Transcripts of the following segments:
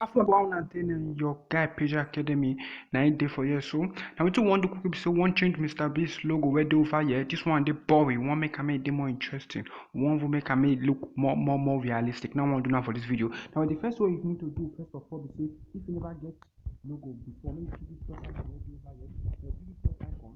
after about one and ten and your guy Peja Academy na im dey for here so na wetin we wan do quick be say we wan change Mr Beast logo wey dey over here this one dey boring we wan make am make e dey more interesting we wan even make am make e look more more more realistic na we wan do now for this video now the first way you need to do first of all be say if you never get logo before make you click this plus icon wey dey over here so click this plus icon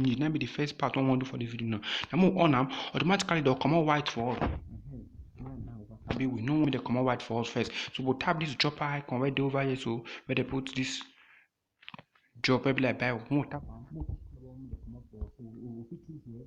need na be the first part wey we wan do for the video now na make we on am automatically dem go comot white for us abi we no want make dem comot white for us first so we go tap this dropper icon wey dey over here so wey dey put this drop wey be like bible make we tap am make we comot for us so we go fit choose here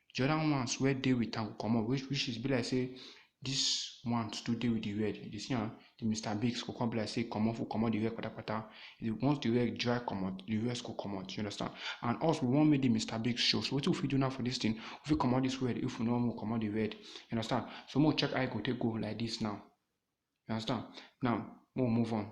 the other ones wey dey with am go comot which which is be like say this one too dey with the red you dey see am the mr bigs go come be like say comot for comot the red patapata the once the red dry comot the rest go comot you understand and us we wan make the mr bigs show so wetin we fit do now for this thing we fit comot this red if we no wan comot the red you understand so make we check how e go take go like this now you understand now make we move on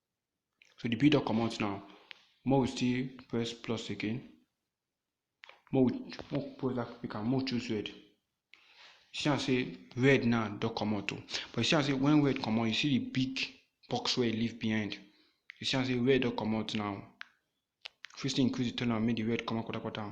so the p don comot now more we still press plus again more we more we press that pick am more we choose red you see am say red now don comot o but you see am say when red comot you see the big box wey e leave behind you see am say red don comot now you fit still increase the turn am make the red comot kpatakpata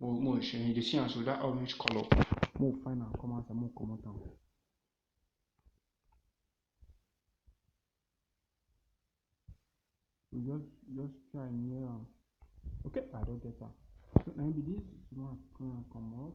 Mo mo show you dey see am so that orange color. Mo find am come outside, mo comot am. We just just try near am. Okay, I don get am. So na be this one come comot.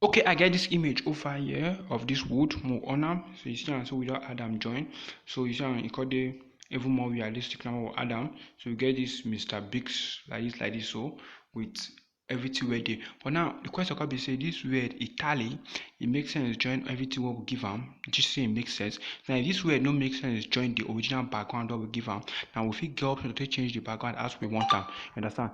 okay i get this image over here of this wood more on am so you see am so we don add am join so you see am e come dey even more realistic now we add am so we get this mr bigs like this like this so with everything wey dey but now the question come be say this word e tally e make sense join everything wey we give am this say e make sense now if this word no make sense join the original background wey we give am now we fit get option to take change the background as we want am understand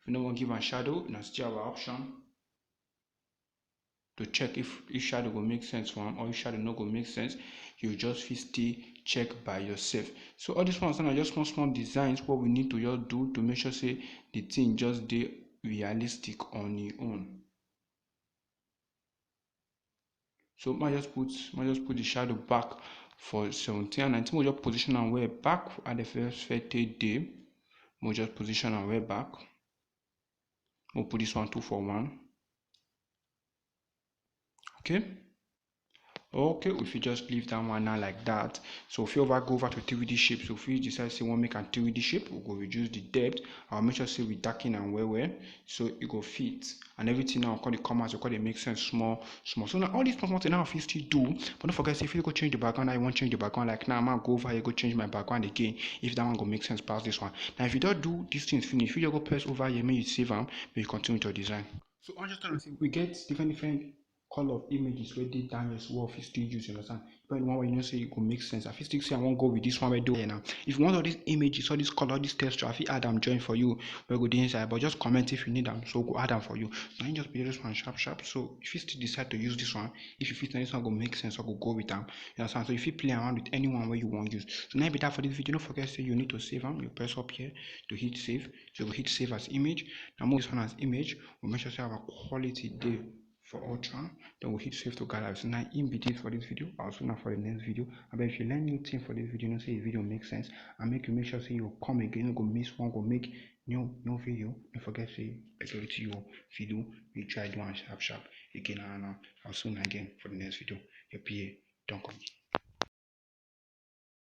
if you no wan give am shadow na still our option to check if if shadow go make sense for am or if shadow no go make sense you just fit still check by yourself so all these ones are just small small designs what we need to just do to make sure say the thing just dey realistic on your own so ma just put ma just put the shadow back for 17 and 19 we just position and we're back at the first 30 day we just position and we're back we'll put this one two for one okay okay if you just leave that one now like that so if you over go over to 3d shape so if you decide say want make a 3d shape we go reduce the depth i'll make sure say we darken and where where so e go fit and everything now come dey come out, e go come dey make sense small small. So na all these small small thing now I fit still do but no forget say if you go change the background now you wan change the background like now ma go over here go change my background again if that one go make sense pass this one. Now if you don do these things finish you just go press over here make you save am make you continue with your design. So I wan just tell una say we get different different call of images wey dey Daniel's wall fit still use, you understand? But the one wey you know say e go make sense, I fit still say I wan go with this one wey dey here now. If you want all these images, all these color, all these texture, I fit add am join for you wey go dey inside. But just comment if you need am, so we go add am for you. Na him just be this one sharp sharp. So you fit still decide to use this one if you fit. Na this one go make sense or go go with am. You understand? So you fit play around with anyone wey you wan use. So na him be that for this video. No forget say you need to save am. You press up here to hit save. So you go hit save as image. Now move this one as image. We make sure say our quality dey. for altar then we hit save to gather so now in between for this video i'll soon for the next video but if you learn new thing for this video you know say the video makes sense and make you make sure say you come again you go miss one go make new new video don't forget say majority you video we try do one sharp sharp again and uh, i'll soon again for the next video your pa don't come